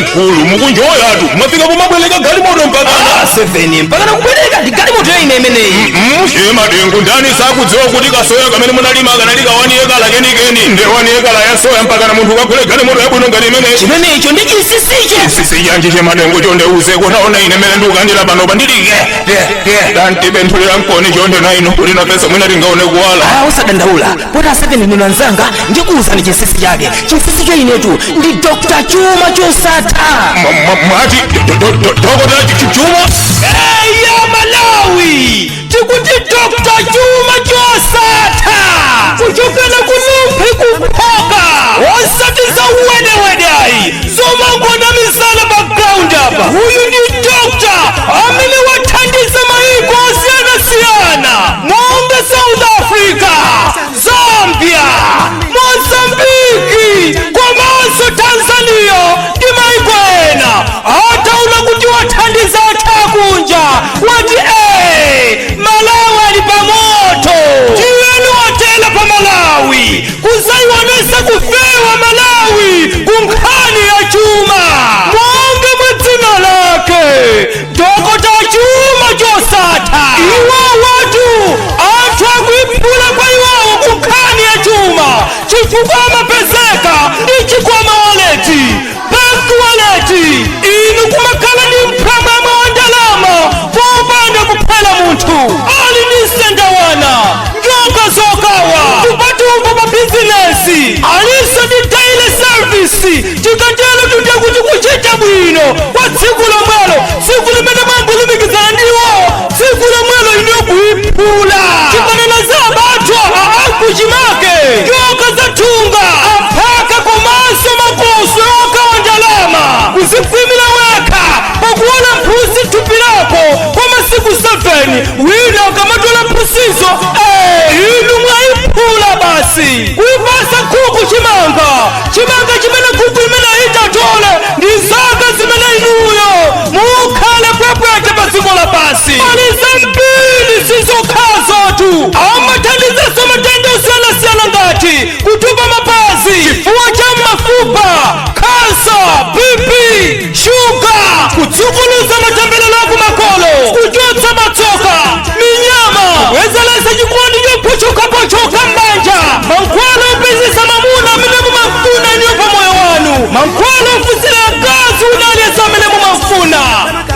mkulu mukunjoyatu mwafika pomabweretsa galimoto mpaka seveni mpaka nakubweretsa ndi galimoto ya ine imeneyi che madengu ndani sakudziwa kuti kasoya kamene munalima kanali kawani yekala kenikeni nde wani yekala ya soya mpaka na munthu ukagule galimoto yabwino ngati imeneyi chimenecho ndi chinsinsicho chinsinsi chanji che madengu chonde tiuzeko taonani ine mene ndikukanira panopa ndilibe kanthu tiwalankhuleni chonde na inu kuti nafenso mwina tingaone kuwala Ah, usadandaula poti poti ndinu anzanga ndikuwuzani chinsinsi chake chinsinsi cha inetu ndi dr chuma chosatha Mwa- mwa- mwati do- do- do- do- dokota Ch- Ch- chuma eya malawi tikuti dr chuma chosatha kuchokera ku rumphi ku phoka osati za uwedewedayi zomangonamizana pa ground apa uyu ndi dr amene wathandiza mayiko osiyanasiyana monga south africa zambia mozambiki komanso tanzania ndi mayiko ena ataona kuti wathandiza anthu kunja wati ee malawi ali pamoto tiyeni watela pa malawi kuzayionetsa kufewa malawi kunkhani ya chuma monga mwa dzina lake dokota chuma chosatha iwowatu anthu akuiphula kwa iwowo kunkhani ya chuma chifukwa amapezeka ndi chikwama waleti pa waleti inu kumakhala ndi mwanamwana wa ndalama popanda kuphera munthu ali ndi ndondocha wana njoka zokawa mpatumbo pa bizinesi alinso ndi daily service tikatero tikuti kuchita bwino kwa tsiku lomwelo tsiku limene mwangulumikizana ndi iwowo tsiku lomwelo inuyo kuiphula tikanena za abathwa akuchimake njoka za thunga aphaka komanso makoso okawa ndalama kuzikhwimira wekha poguona phulusa thupi lako kwa masiku 7 wina akamatola mphutsizo eh, inu mwaiphula basi kuipatsa nkhuku chimanga chimanga chimene nkhuku imene itatole ndi zaka zimene inuyo mukhale pwepwete pa dziko lapansi pali zambiri sizokhazotu amathandizaso matenda osiyanasiyana ngati kutupa mapazi chifuwa cha mafupa kansa bp shuga kusukuluza matembelelo akumakolo kuchotsa matsoka minyama kubwezeretsa chikondi chopochokapochoka m'banja mankhwala opezetsa mwamuna amene mumafuna inuyo pa moyo wanu mankhwala ofunsira mkazi wina aliyense amene mumafuna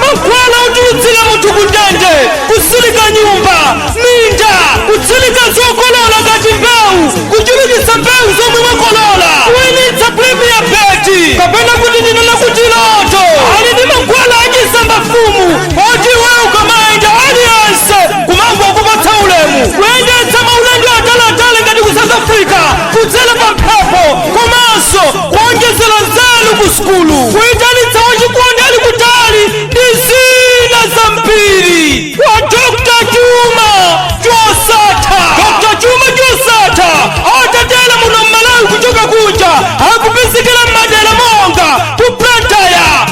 mankhwala otulutsira munthu kundende kutsirika nyumba minda kutsirika zokolola ngati mbewu kuchulukitsa mbewu zomwe mwakolola kuwinitsa premier beti kapena kuti ndinena kuti loto ali ndi mankhwala achisamba fumu poti iwe ukamaenda aliyense kumangokupatsa ulemu kuyendetsa maulendo ataliatali ngati ku south africa kudzera pa mphepo komanso kuonjezera nzeru ku sukulu kuyitanitsa wachikondi ali kutali ndi zina zambiri a dr chuma chosatha dr chuma chosatha atatera muno mmalawi kuchoka kunja akupezekera mmadera monga ku blantyre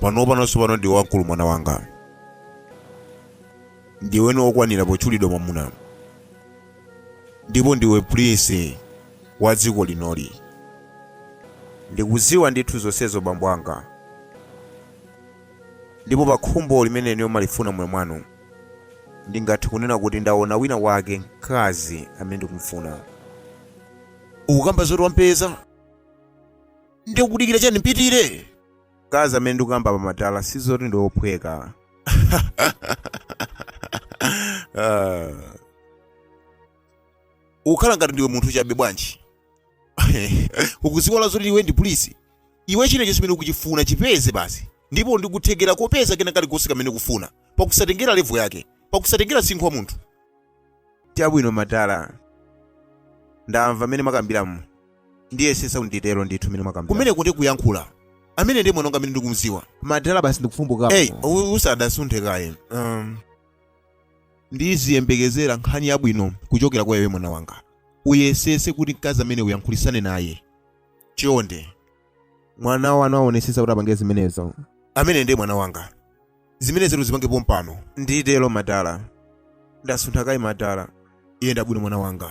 pano panonso pano ndiwe wamkulu mwana wanga ndiwenso wokwanira potchulidwa mwamuna ndipo ndiwe prince wa dziko linoli ndikudziwa ndithu zonsezo bambo anga ndipo pa khumbo limene inuyo mumalifuna mmoyo mwanu ndingathe kunena kuti ndaona wina wake mkazi amene ndikumfuna ukukamba zoti wampeza ndiye kudikira chani mpitire mkazi amene ndikukamba pa madala sizoti ndi ophweka Ah. ukukhala ngati ndiwe munthu chabe bwanji ukuziwala zoti iwe ndi prince iwe china chilichonse chimene ukuchifuna chipeze basi ndipo uli ndi kuthekera kopeza kena kalikonse kamene ukufuna pakusatengera levo yake pakusatengera msinkhu wa munthu Chabwino madala. Ndamva mmene mwakambiramu. Ndiyesetsa kuti nditero ndithu mmene mwakambira. Kumeneko ndi kuyankhula. Amene ndi mwana wanga amene ndikumdziwa. Madala basi ndikufumbukapo. Hey, u- usadasunthe kaye. Um, ndiziyembekezera nkhani yabwino kuchokera kwa iwe mwana wanga. Uyesetse kuti mkazi amene uyankhulisane naye. Chonde. mwana wanu aonetsetsa kuti apange zimenezo amene ndiye mwana wanga zimenezo uzipange pompano nditero madala ndasuntha kaye madala eya chabwino mwana wanga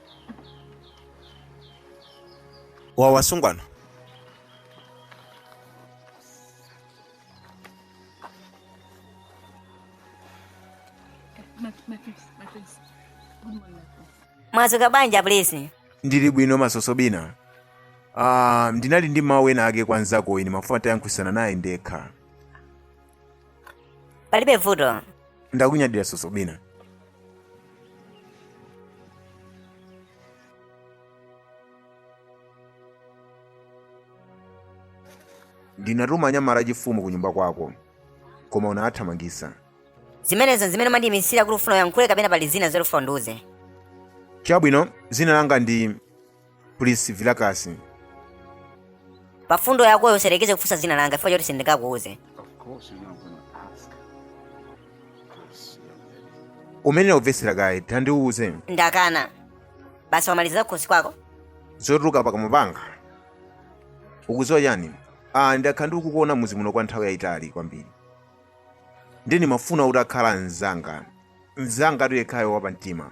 wawa asungwana mwadzuka bwanji a Prince ndili bwino ma Sosobina ah, ndinali ndi mawu ena ake kwa mnzako ndimafuna nditayankhulitsana naye ndekha palibe vuto ndakunyadira Sosobina ndinatuma anyamata achifumu ku nyumba kwako koma unawathamangisa zimenezo zimene umandiyimisira kuti ufuna uyankhule kapena pali zina zoti ufuna undiuze chabwino dzina langa ndi Prince Vilakasi pa fundo yakoyo usayerekeze kufunsa dzina langa chifukwa choti sindingakuuze umayenera kumvetsera kaye usanandiuze ndakana basi wamalizira kukhosi kwako zotuluka pakamwa panga ukudziwa chani ah ndakhala ndikukuona muzi muno kwa nthawi yayitali kwambiri nde ndimafuna kuti ukhale mzanga mzanga atiyekhayo wapamtima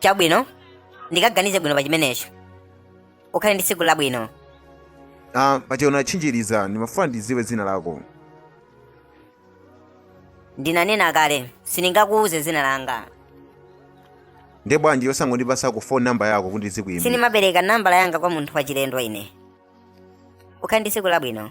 chabwino ndikaganize bwino pa chimenecho ukhale ndi tsiku labwino ah, paja unanditchinjiriza ndimafuna ndidziwe dzina lako ndinanena kale sindingakuuze dzina langa nde bwanji osangondipasa ko phone number yako kuti ndizikuimbira sindimapereka nambala yanga kwa munthu wachilendo ine ukhale ndi tsiku labwino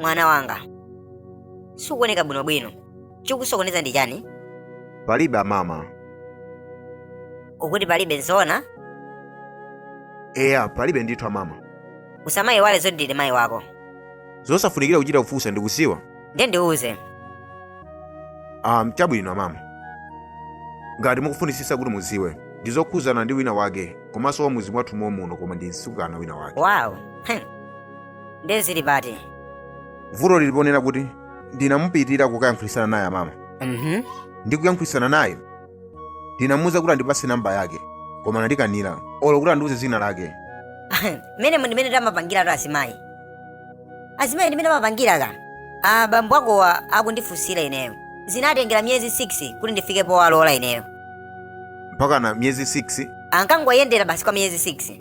mwana wanga sukuoneka bwinobwino chikusokoneza ndi chani palibe amama ukuti palibe nzoona eya palibe ndithu amama usamayiwale zoti ndili mayi wako zosafunikira kuchita kukufunsa ndikudziwa ndiye ndiuze um, chabwino mama ngati mukufunisisa kuti muziwe ndizokhuzana ndi wina wake komanso wa muzi mwathu momuno koma ndi msikana wina wake wawu Hm. ndiye zili pati vuto lili ponena kuti ndinamupitira kukayankhulitsana naye amama Mhm. ndi kuyankhulitsana naye ndinamuuza kuti andipase namba yake koma anandikanira olo kuti andiuze dzina lake mmene mo ndi mmene timapangiratu azimayi azimayi ndi mmene amapangira ka abambo akowa akundifunsira ineyo zinatengera miyezi 6 kuti ndifike powalola ineyo mpakana miyezi 6 ankangoyendera basi kwa miyezi 6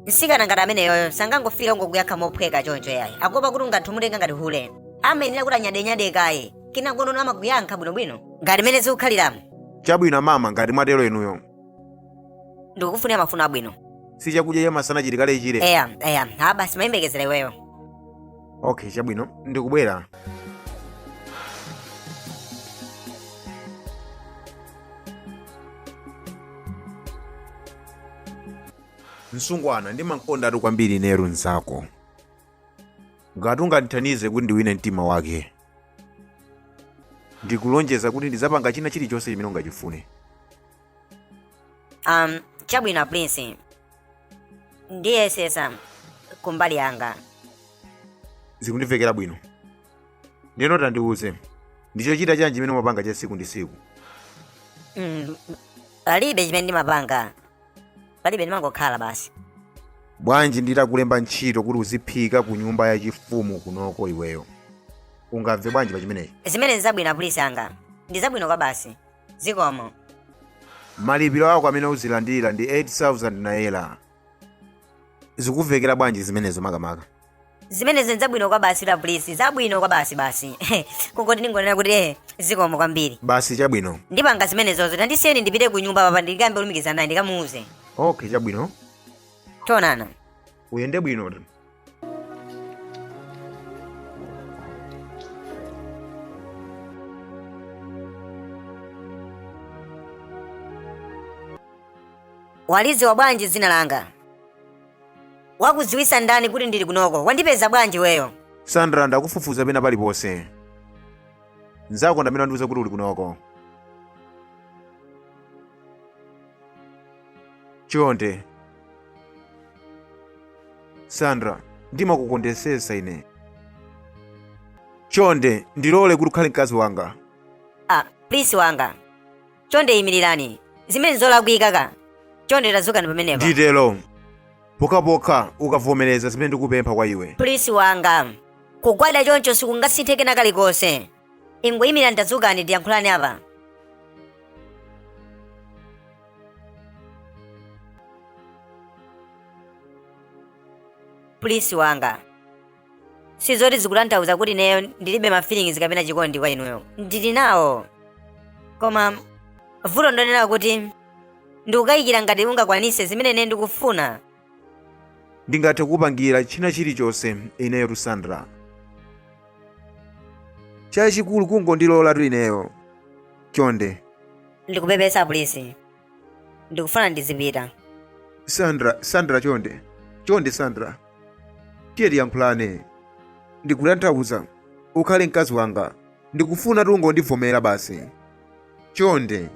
msikana ngati ameneyoyo sangangofika nkungokuyankha mophweka choncho yayi akuopa kuti ungathe kumutenga ngati hule amayenera kuti anyadenyade kaye kenako no amakuyankha bwinobwino ngati mmene zikukhaliramo chabwino mama ngati mwatero inuyo ndikufunira mafuno abwino si chakudya cha masana chili kale eya eya ha basi timayembekezera iweyo okay chabwino ndikubwera msungwana ndimamukondatu kwambiri ineyo mnzako ngati ungandithandize kuti ndiwine mtima wake ndikulonjeza kuti ndidzapanga china chilichonse chimene ungachifune um chabwino prince ndiyesesa kumbali yanga zikundimvekera bwino ndiyeno tandiuze ndi chochita chanji chimene umapanga cha siku ndi siku mm, palibe chimene ndimapanga palibe ndimangokhala basi bwanji nditakulemba ntchito kuti uziphika ku nyumba yachifumu kunoko iweyo ungamve bwanji pa chimenechi zimenezi nzabwino a prince anga ndi zabwino kwabasi zikomo malipiro ako amene uzilandira ndi 8000 naira zikumvekera bwanji zimenezo makamaka zimenezi nzabwino kwabasi a prince zabwino kwabasi basi kungoti ndingonena kuti eh zikomo kwambiri basi chabwino ndipanga zimenezozo tandisiyani ndipite ku nyumba pompa ndikalumikizane naye ndikamuuze okay chabwino tionana uyende bwino walidziwa bwanji dzina langa Wakudziwitsa ndani kuti ndili kunoko? Wandipeza bwanji iweyo? Sandra, ndakufufuza pena paliponse. Mnzako ndi amene wandiuza kuti uli kunoko. Chonde. Sandra, ndimakukondetsetsa ine. Chonde, ndilole kuti ukhale mkazi wanga. Ah, prince wanga. chonde imirirani zimenezi nzolakwika ka chonde tadzukani pamenepa nditero pokhapokha ukavomereza zimene ndikupempha kwa iwe prince wanga kugwada choncho sikungasinthe kena kalikonse ingoyimirirani dzukani tiyankhulane apa prince wanga sizoti zikutanthauza kuti ineyo ndilibe ma feelings kapena chikondi kwa inuyo ndili nawo koma vuto ndonena kuti ndikukayikira ngati ungakwanise zimene ine ndikufuna ndingathe kukupangira china chilichonse ineyotu sandra chachikulu kungondilolatu ineyo chonde ndikupepesa prince ndikufuna ndizipita sandra sandra chonde chonde sandra tiye tiyankhulane ndikutanthauza ukhale mkazi wanga ndikufuna ungondivomera basi chonde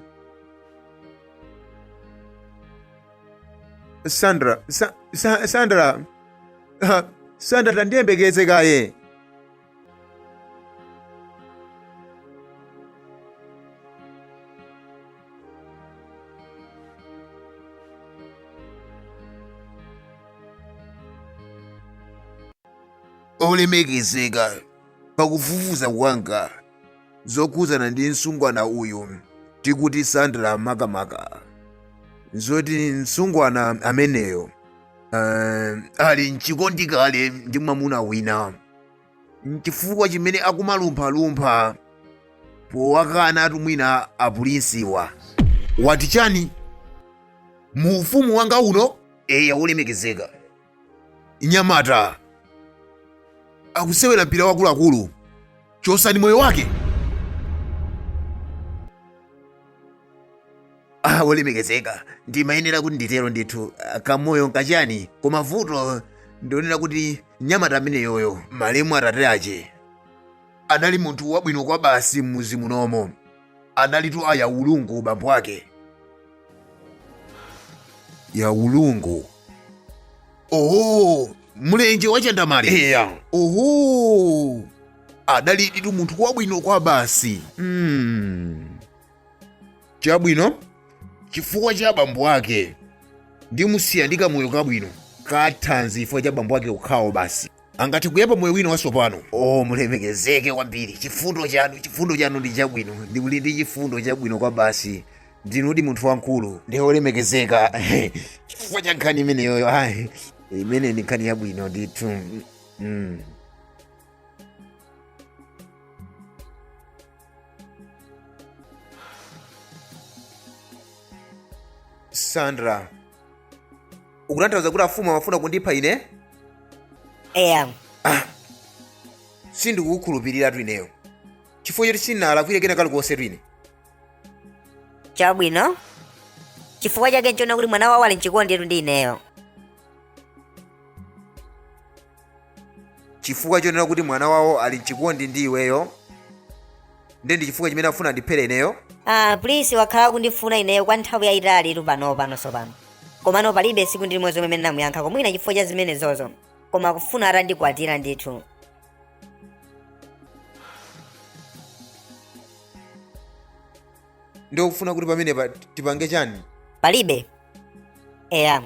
sandra sa, sa, sandra Ah, sandra tandiyembekeze kaye olemekezeka pakufufuza kwanga zokhudzana ndi mtsungwana uyu tikuti sandra makamaka zoti mtsungwana ameneyo uh, ali mchikondi kale ndi mwamuna wina nchifukwa chimene akumalumphalumpha powakana atumwi a pulinsiwa wati chani mu ufumu wanga uno eya wolemekezeka mnyamata akusewera mpira akuluakulu chosani moyo wake Ah, wolemekezeka ndimayenera kuti nditero ndithu ah, kamoyo nkachani koma vuto ndi lonena kuti mnyamata ameneyoyo malemu atate ache anali munthu wabwino kwabasi m'mudzi munomo analitu a Yaulungu bambo ake Yaulungu oho mlenje wachandamale uja oho adaliditu munthu wabwino kwabasi mm. chabwino chifukwa cha abambo ake ndimusiya ndi kamoyo kabwino kathanzi chifukwa cha bambo ake okhawo basi angathe kuyamba moyo wina watsopano o mulemekezeke kwambiri chifundo chanu chifundo chanu ndi chabwino ndipo muli ndi chifundo chabwino kwabasi ndinudi munthu wamkulu ndi olemekezeka chifukwa cha nkhani imeneyoyo ayi imeneyi ndi nkhani yabwino ndithu mm. sandra ukutanthauza kuti afumu amafuna kundipha ine eya sindikukukhulupirira tu ineyo chifukwa choti sinalakwire kena kalikonse tu ine chabwino chifukwa chake nchonena kuti mwana wawo ali mchikondi etu ndi ineyo chifukwa chonena kuti mwana wawo ali mchikondi ndi iweyo nde ndi chifukwa chimene akufuna andiphere ineyo ah prince wakhala akundifuna ineyo kwa nthawi yayitalitu pano pano tsopano komano palibe siku ndi limodzi lomwe ndinamuyankha koma mwina chifukwa cha zimenezozo koma akufuna atandikwatira ndithu ndiye ukufuna kuti pamenepa tipange chani palibe eya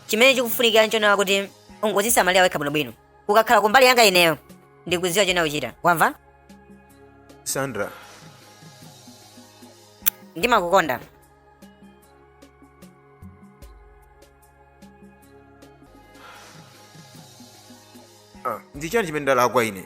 chimene chikufunikira nchonena kuti ungozisamalira wekha bwinobwino ukakhala kumbali yanga ineyo ndikudziwa chonena kuchita, wamva sandra ndimakukonda ah, ndi chani chimene ndalakwa ine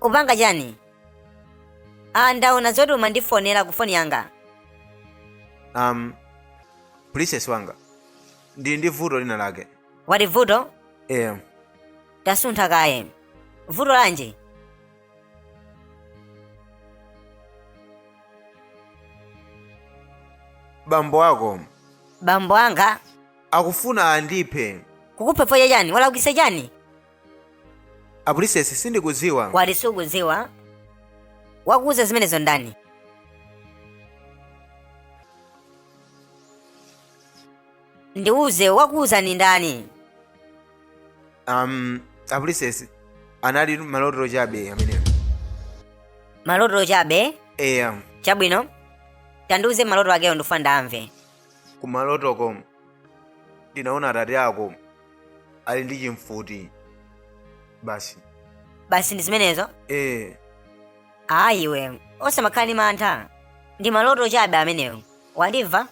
upanga chani ah ndaona zoti umandifonera ku foni yanga um princess wanga ndili ndi vuto lina lake wati vuto em tasuntha kaye vuto lanji bambo ako bambo anga akufuna andiphe kukupha chifukwa chani walakwitsa chani apulisesi sindikudziwa wati sukudziwa wakuuza zimenezo ndani ndiuze wakuuza ni ndani um, apulisesi anali maloto chabe amenewo maloto chabe eya chabwino tandiuze maloto akewo ndifuna ndamve kumalotoko ndinaona atate ako ali ndi chimfuti basi basi ndi zimenezo ee ayi iwe osamakhala ndi mantha ndi maloto chabe amenewo wandimva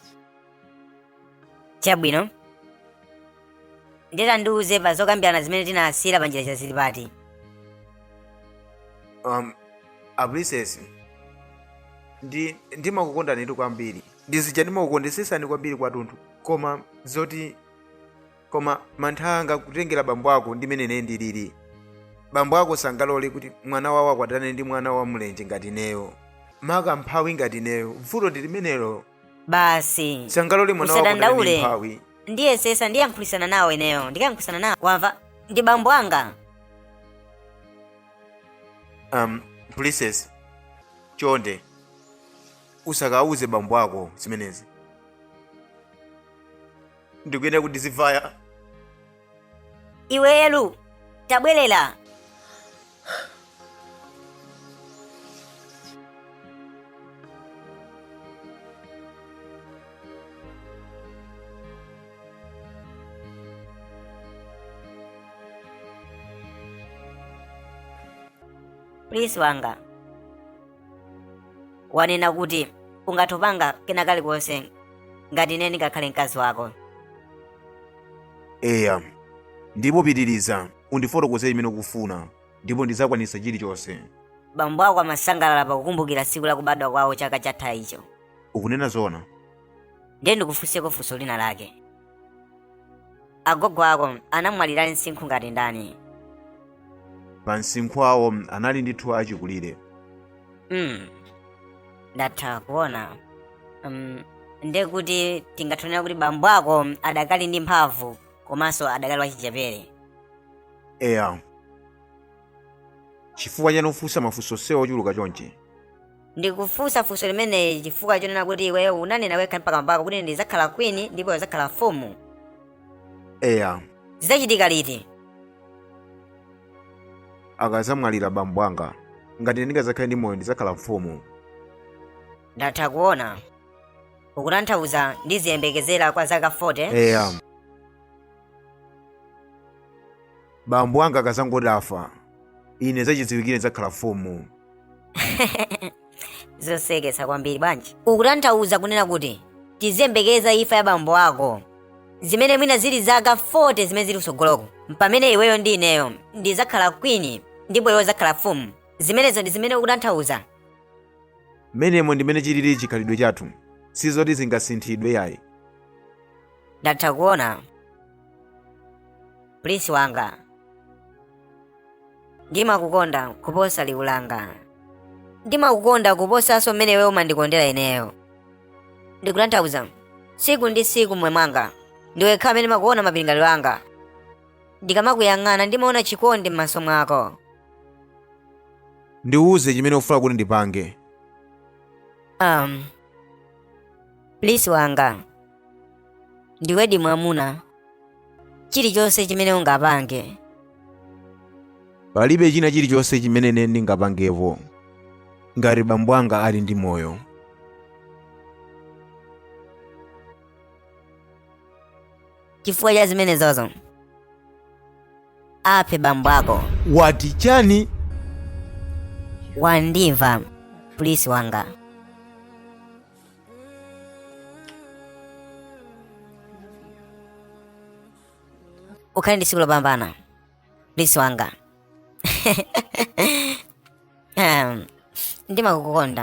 chabwino nde tandiuze pa zokambirana zimene tinasiyira pa njira zili pati um, a princess ndi ndimakukondanitu kwambiri ndi zija ndimakukondetsesani kwambiri kwatunthu koma zoti koma mantha anga kutengera bambo ako ndi mmene ine ndilili bambo ako sangalole kuti mwana wawo akwatane ndi mwana wa mlenje ngati ineyo maka mphawi ngati ineyo vuto ndi limenelo basi sangalole mwana wawo akwatane ndi usadandaule mphawi ndiyesesa ndiyankhulisana nawo ineyo ndikayankhulisana nawo wamva ndi bambo anga um, princess chonde usakawuze bambo ako zimenezi ndikuyenera kuti ndizivaya iwe elu tabwerera prince wanga wanena kuti ungathe kupanga kena kalikonse ngati ine ndingakhale mkazi wako eya ndipo pitiriza undifotokozere chimene ukufuna ndipo ndidzakwanitsa chilichonse bambo ako amasangalala pakukumbukira tsiku la kubadwa kwawo chaka chathachi ukunena zoona ndiye ndikufunseko funso lina lake agogo ako anamwalira ali msinkhu ngati ndani pa msinkhu awo anali ndithu achikulire mm. ndatha kuona um, nde kuti tingathonera kuti bambo ako adakali ndi mphamvu komanso adakali wachichepere eya chifukwa chani ufunsa mafunso onsewa ochuluka chonchi ndikufunsa funso limeneli chifukwa chonena kuti iweyo unanena wekha m'mbamo mwako kuti ndidzakhala queen ndipo iwe udzakhala mfumu eya zidzachitika liti akazamwalira bambo anga ngati ine ndingazakhale ndi moyo ndizakhala mfumu ndatha kuona ukutanthauza ndiziyembekezera kwa zaka 40 eya bambo anga akazangoti afa ine zachidziwikire ndzakhala mfumu zosekesa kwambiri bwanji ukutanthauza kunena kuti tiziyembekeza imfa ya bambo ako zimene mwina zili zaka 40 zimene zili kusogoloko pamene iweyo ndi ineyo ndizakhala kwini ndipo iwe uzakhala mfumu zimenezo ndi zimene ukutanthauza mmenemo ndimene chilili chikhalidwe chathu sizoti zingasinthidwe yayi ndatha kuona Prince wanga, ndimakukonda kuposa liwu langa. Ndimakukonda kuposanso mmene iwe umandikondera ineyo. Ndikutanthauza, tsiku ndi tsiku m'moyo mwanga, ndiwe yekha amene ndimakuona m'malingaliro anga. Ndikamakuyang'ana ndimaona chikondi m'maso mwako. Ndiuze chimene ufuna kuti ndipange. Um, Prince wanga, ndiwedi mwamuna chilichonse chimene ungapange palibe china chilichonse chimene ine ndingapangepo ngati bambo anga ali ndi moyo chifukwa cha zimenezo ukaphe bambo ako wati chani wandimva prince wanga ukhale ndi tsiku lopambana prince wanga um, ndimakukonda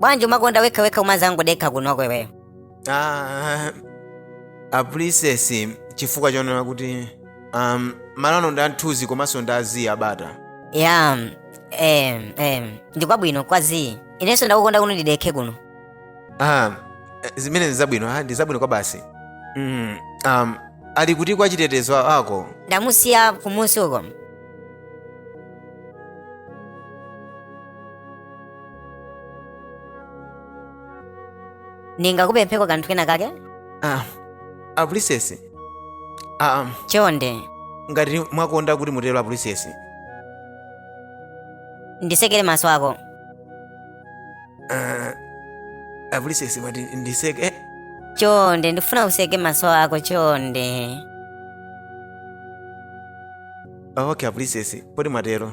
bwanji umakonda wekha wekha umazangodekha kunoko iweyo Ah, a princess chifukwa choona kuti um, malo ano ndi amthunzi komanso ndi a zii a bata ya em em ndikwabwino kwa zii inenso ndakukonda kuno ndidekhe kuno ah, zimene ndi zabwino ah, ndi zabwino kwa basi mm, um, ali kuti kwa chitetezo wako ndamusiya kumunsi uko ndingakupempheko kanthu kena kake ah, a princess ah, um, chonde ngati mwakonda kuti mutero a princess nditsekere maso ako Ah, a princess mwati nditseke eh, chonde ndifuna utseke maso ako chonde ah, okay a princess poti mwatero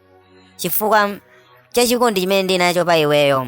chifukwa cha chikondi chimene ndili nacho pa iweyo